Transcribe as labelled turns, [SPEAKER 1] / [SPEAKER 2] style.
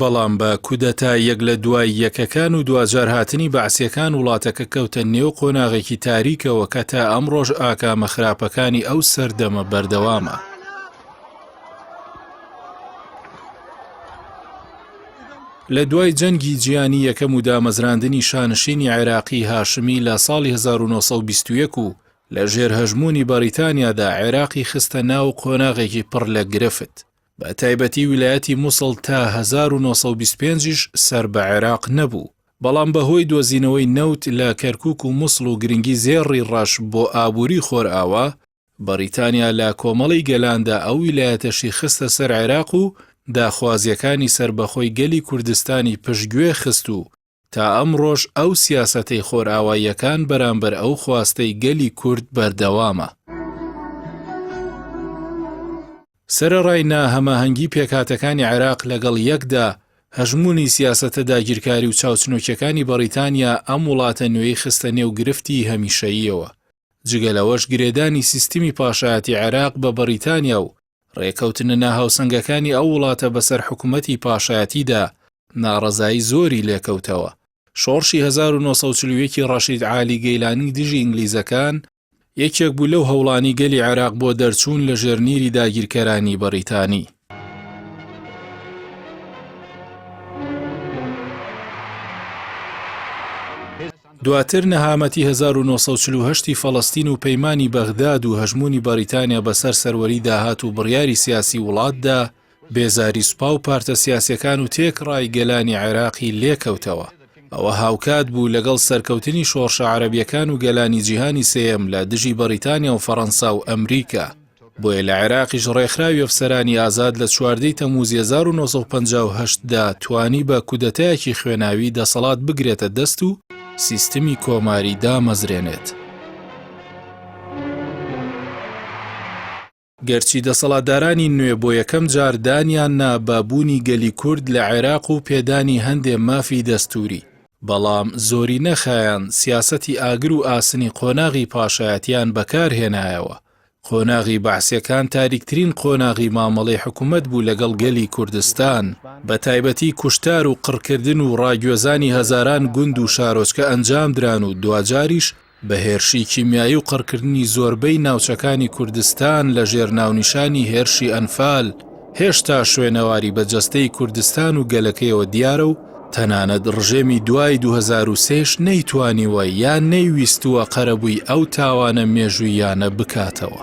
[SPEAKER 1] بەڵام بە کودەتا یەک لە دوای یەکەکان و دواجار هاتنی بەعسیەکان وڵاتەکە کەوتە نێو قۆناغێکی تاریکەوە کە تا ئەمڕۆش ئاکامە خراپەکانی ئەو سەردەمە بەردەوامە. لە دوای جەنگی جیانی یەکەم و دامەزراندنی شانشینی عێراقی هاشمی لە ساڵی 1920 و لە ژێر هەژموونی بەریتانیادا عێراقی خستە ناو قۆناغێکی پڕ لە گرفت. بە تایبەتی ویلایەتی موسڵ تا هەزار و نۆ سەد و بیست و پێنج یش سەر بە عێراق نەبوو، بەڵام بە هۆی دۆزینەوەی نەوت لە کەرکووک و موسڵ و گرنگی زێ ڕی ڕەش بۆ ئابووری خۆرئاوا، بەڕیتانیا لە کۆمەڵی گەلاندا ئەو ویلایەتەشی خستە سەر عێراق و داخوازییەکانی سەربەخۆی گەلی کوردستانی پشتگوێ خست و تا ئەمڕۆش ئەو سیاسەتەی خۆرئاواییەکان بەرامبەر ئەو خواستەی گەلی کورد بەردەوامە. سەرەڕای ناهەماهەنگی پێکهاتەکانی عێراق لەگەڵ یەکدا، هەژموونی سیاسەتە داگیرکاری و چاوچنۆکیەکانی بەڕیتانیا ئەم وڵاتە نوێی خستە نێو گرفتی هەمیشەییەوە، جگە لەوەش گرێدانی سیستمی پاشایەتی عێراق بە بەڕیتانیا و ڕێکەوتنە ناهاوسەنگەکانی ئەو وڵاتە بەسەر حکومەتی پاشایەتیدا ناڕەزایی زۆری لێکەوتەوە. شۆڕشی هەزار و نۆ سەد و چل و یەک ڕەشید عالی گەیلانی دژی ئینگلیزەکان، یەکێک بوو لەو هەوڵانەی گەلی عێراق بۆ دەرچوون لە ژێر نیری داگیرکەرانی بەڕیتانی. دواتر نەهامەتی هەزار و نۆ سەد و چل و هەشت ی فەڵەستین و پەیمانی بەغداد و هەژموونی بەڕیتانیا بەسەر سەروەری داهات و بڕیاری سیاسی وڵاتدا، بێزاری سوپا و پارتە سیاسیەکان و تێکڕای گەلانی عێراقی لێکەوتەوە. ئەوە هاوکات بوو لەگەڵ سەرکەوتنی شۆڕشە عەرەبیەکان و گەلانی جیهانی سێیەم لە دژی بەڕیتانیا و فەڕەنسا و ئەمریکا. بۆیە لە عێراقیش ڕێکخراوی ئەفسەرانی ئازاد لە چواردەی تەموزی 1950 دا توانی بە کودەتایەکی خوێناوی دەسەڵات بگرێتە دەست و سیستمی کۆماری دامەزرێنێت. گەرچی دەسەڵاتدارانی نوێ بۆ یەکەم جار دانیان نا بە بوونی گەلی کورد لە عێراق و پێدانی هەندێ مافی دەستووری، بەڵام زۆرینە خایاند سیاسەتی ئاگر و ئاسنی قۆناغی پاشایەتیان بەکارهێنایەوە قۆناغی بەعسیەکان تاریکترین قۆناغی مامەڵەی حکومەت بوو لەگەڵ گەلی کوردستان، بە تایبەتی کوشتار و قڕکردن و ڕاگوێزانی هەزاران گوند و شارۆچکە ئەنجامدران و دواجاریش بە هێرشی کیمیایی و قڕکردنی زۆربەی ناوچەکانی کوردستان لە ژێر ناونیشانی هێرشی ئەنفال، هێشتا شوێنەواری بە جەستەی کوردستان و گەلەکەیەوە دیارە و تەنانەت ڕژێمی دوای دوو هەزار و سێ یش نەیتوانیوە یان نەیویستووە قەرەبووی ئەو تاوانە مێژووییانە بکاتەوە.